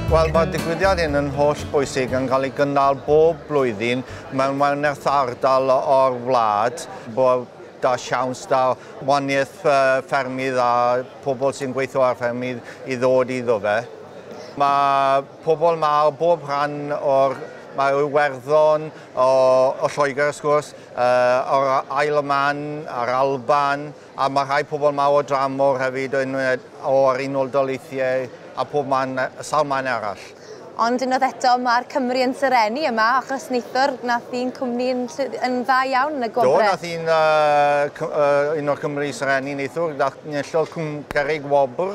Wel, mae'r digwyddiad hyn yn holl bwysig yn cael ei gynnal bob blwyddyn mewn werneth ardal o'r wlad, bod da siawns da waniaeth ffermydd a pobl sy'n gweithio ar ffermydd i ddod iddo fe. Mae pobl mae o bob rhan o'r... Mae Iwerddon, o, o Lloegr wrth gwrs, Yr Isle of Man, yr Alban, a mae rhai pobl mawr o dramor hefyd yn o'r Unol Daleithiau a pob man, sawl man arall. Ond unwaith eto, mae'r Cymry yn serennu yma, achos neithiwr, nath un cwmni yn, yn dda iawn yn y gwobrau. Do, nath un, uh, un o'r Cymry serennu neithiwr, nath enillodd Cwm Cerrig wobr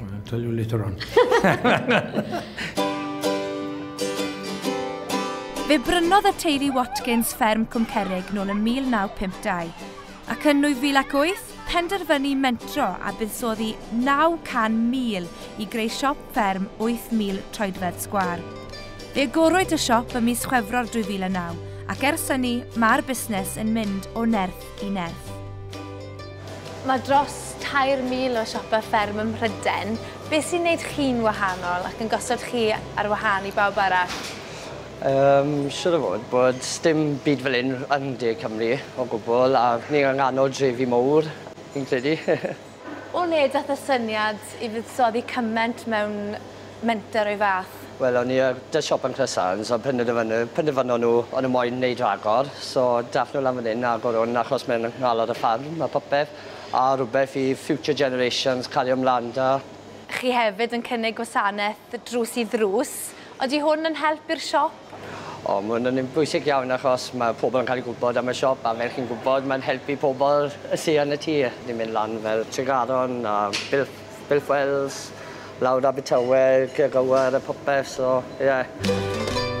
I'll tell you later on. Fe brynodd y teulu Watkins fferm Cwmcerig nôl yn 1952, ac yn 2008 penderfynu mentro a buddsoddi 900,000 i greu siop fferm 8,000 troedfedd sgwar. Fe agorwyd y siop ym mis Chwefror 2009 ac ers hynny mae'r busnes yn mynd o nerth i nerth. Mae dros 3,000 o siopau fferm ym Mhrydain. Beth sy'n gwneud chi'n wahanol ac yn gosod chi ar wahân i bawb arall? Yym, siŵr o fod bod dim byd fel hyn yn De Cymru o gwbl a ni yng nghanol drefi mowr, fi'n credu. O le dath y syniad i fuddsoddi cyment mewn menter o'i fath? Wel o'n i yy 'da siop yn Cresant a penderfynu penderfynon nhw o'n nhw moyn neud rhagor so dath nhw lan fan 'yn a agor hwn achos mae'n nghalon y ffarm a popeth a rwbeth i future generations cario mlan 'da. Chi hefyd yn cynnig gwasanaeth drws i ddrws, odi hwn yn help i'r siop? O ma' wnna'n un bwysig iawn achos ma' pobol yn ca'l 'u gwbod am y siop a fel chi'n gwbod ma'n helpu pobol yy sy yn y tir. Ni'n myn' lan fel Tregaron a Bil- Bilfwells lawr Abertawe Ceg Aur a popeth so ie.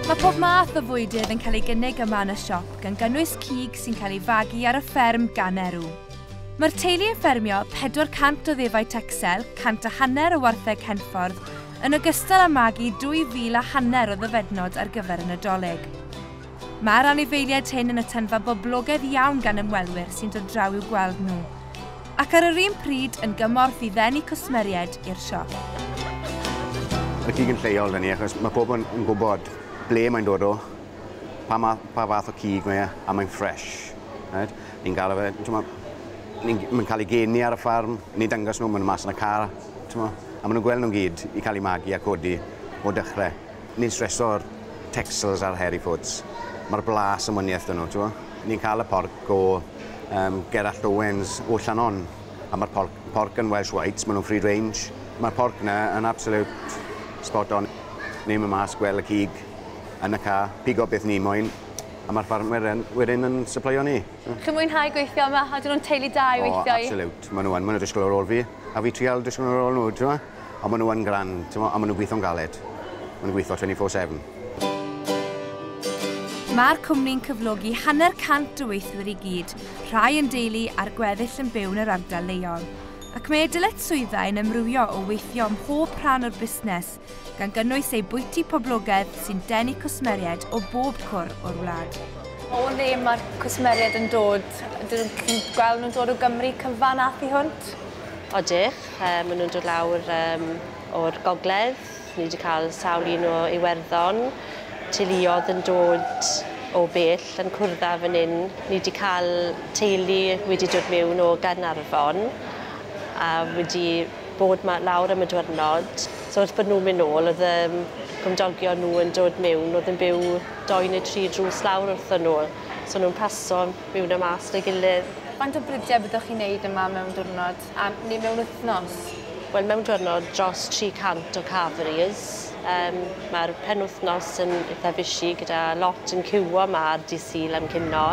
Mae pob math o fwydydd yn cael ei gynnig yma yn y siop gan gynnwys cig sy'n cael ei fagu ar y fferm gan Erw. Mae'r teulu yn ffermio 400 o ddefaid Texel, cant a hanner o wartheg Henffordd yn ogystal â magu 2,000 a hanner o ddyfednod ar gyfer y Nadolig. Mae'r anifeiliaid hyn yn atynfa boblogaidd iawn gan ymwelwyr sy'n dod draw i'w gweld nhw, ac ar yr un pryd yn gymorth i ddenu cwsmeriaid i'r siop. Mae cig yn lleol 'da ni achos mae pobl yn yn gwybod ble mae'n dod o, pa ma- pa fath o cig mae e, a mae'n fresh. Right? Ni'n galw fe, t'mo', ni'n g- mae'n cael ei geni ar y ffarm, ni'n dangos nhw, maen nhw mas yn y car. T'mo? A ma' nw'n gwel' nw'n gyd i ca'l 'u magu a codi o dechre. Ni'n streso'r Texels a'r Hairy Foots. Ma'r blas yn wanieth 'da nw, t'mo'? Ni'n ca'l y porc o yym Gerallt Owens o Llannon a ma'r porc porc yn Welsh Whites, ma' nw'n free range. Ma'r porc 'na yn absolute spot on. Ni'n myn' mas gwel' y cig yn y ca, pigo beth ni moyn a ma'r ffarmwyr yn wedyn yn sypleio ni. Mm. Chi'n mwynhau gweithio yma? Ydyn nhw'n teulu da i weithio i? O, absolute. Maen nhw yn. Maen nhw'n disgwyl ar ôl fi. A fi trial disgwyl ar ôl nhw, ti'n ma? Ond maen nhw yn grand, ti'n ma? A maen nhw'n gweithio'n galed. Maen nhw'n gweithio 24-7. Mae'r cwmni'n cyflogi hanner cant o weithwyr i gyd, rhai yn deulu a'r gweddill yn byw yn yr ardal leol. Ac mae ei dyletswyddau yn amrywio o weithio ym mhob rhan o'r busnes gan gynnwys eu bwyty poblogaidd sy'n denu cwsmeriaid o bob cwr o'r wlad. O le mae'r cwsmeriaid yn dod? Dyn nhw'n gweld nhw'n dod o Gymru cyfan a thu hwnt? Odych, maen nhw'n dod lawr um, o'r gogledd. Ni wedi cael sawl un o Iwerddon, teuluodd yn dod o bell yn cwrdd fan hyn. Ni wedi cael teulu wedi dod mewn o Gaernarfon a wedi bod 'ma lawr am y diwrnod so wrth bod nhw'n mynd nôl oedd yym cymdogion nhw yn dod miwn oedd yn byw dou neu tri drws lawr wrthon nhw so o'n nhw'n paso miwn a mas 'da ei gilydd. Faint o brydie byddwch chi'n neud yma mewn diwrnod a neu mewn wythnos? Wel mewn diwrnod dros 300 o carveries yym ma'r penwythnos yn itha bushy gyda lot yn ciwio 'ma ar dydd Sul am cinio.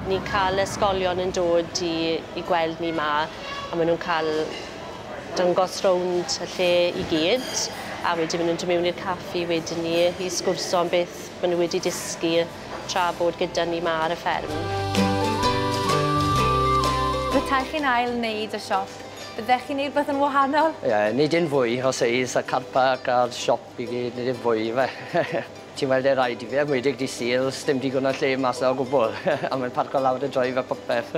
Ni'n ca'l ysgolion yn dod i i gweld ni 'ma. a maen nhw'n cael dangos rownd y lle i gyd a wedyn maen nhw'n dod mewn i'r caffi wedyn 'ny i sgwrso am beth maen nhw wedi dysgu tra bod gyda ni 'ma ar y fferm. Petai chi'n ail wneud y siop, byddech chi'n wneud rhywbeth yn wahanol? Ie, nid yn fwy o seis y carpau ac a'r siop I gyd nid yw'n fwy ife? Ti'n weld e raid i fi enwedig dydd Sul sdim digon o lle mas 'na o gwbwl a mae'n parco lawr y drive a popeth.